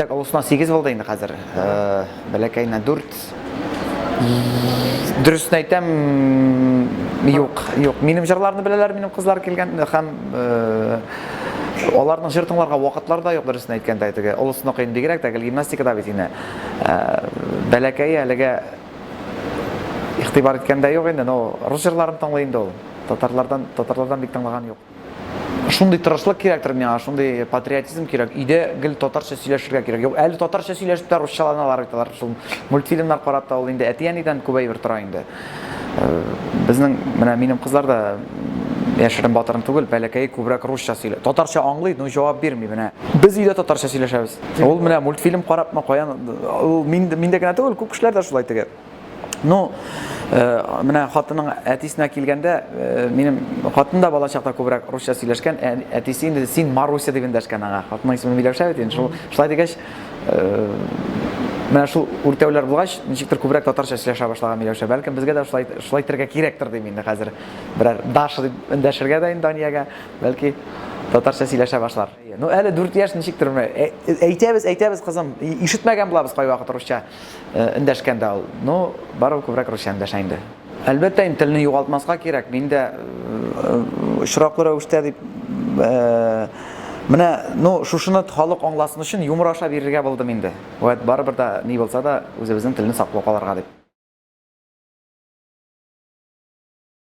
Так, олысына сигез булды инде хәзер. Бәләкәенә дүрт. Дөресен әйтәм, юк, юк. Минем җырларны беләләр, минем кызлар килгән һәм аларның җыр тыңларга вакытлары да юк, дөресен әйткәндә, теге олысына кыен бигрәк тә гел гимнастикада бит инде. Бәләкәе әлегә игътибар иткәндә юк инде, но рус җырларын тыңлый инде ул. Татарлардан, татарлардан бик тыңлаган юк. Шундый тырышлык кирәктер миңа, шундый патриотизм кирәк. Өйдә гел татарча сөйләшергә кирәк. Юк, әле татарча сөйләшеп тә русчаланалар бит алар. Шул мультфильмнар карап та ул инде әти-әнидән күп әйбер тора инде. Э, безнең менә минем кызлар да яшерен батырын түгел, бәләкәй күбрәк русча сөйлә. Татарча аңлый, но җавап бирми менә. Без өйдә татарча сөйләшәбез. Ул менә мультфильм карапмы, каян ул мин мин дә генә түгел, күп кешеләр дә шулай теге. Ну, э, менә хатының әтисенә килгәндә, э, минем хатын да бала чакта күбрәк русча сөйләшкән, ә, әтисе инде син Маруся дип эндәшкән аңа. Хатының исеме Миләүшә бит инде. Шул шулай дигәч, э, менә шул үртәүләр булгач, ничектер күбрәк татарча сөйләшә башлаган Миләүшә. Бәлкем безгә дә шулай шулай итәргә кирәктер дим инде хәзер. Берәр Даша дип эндәшергә дә инде Даниягә, бәлки татарча сөйләшә башлар. Ну, әле 4 яшь ничектер менә әйтәбез, әйтәбез кызым, ишетмәгән булабыз кайвакыт русча. Эндәшкән дә ул. Ну, барыбер күбрәк русча эндәшә инде. Әлбәттә, инде телне югалтмаска кирәк. Мин дә очраклы рәвештә дип Менә, ну, шушыны халык аңласын өчен юмор аша бирергә булдым инде. Вәт, барыбер да ни булса да үзебезнең телне саклап калырга дип.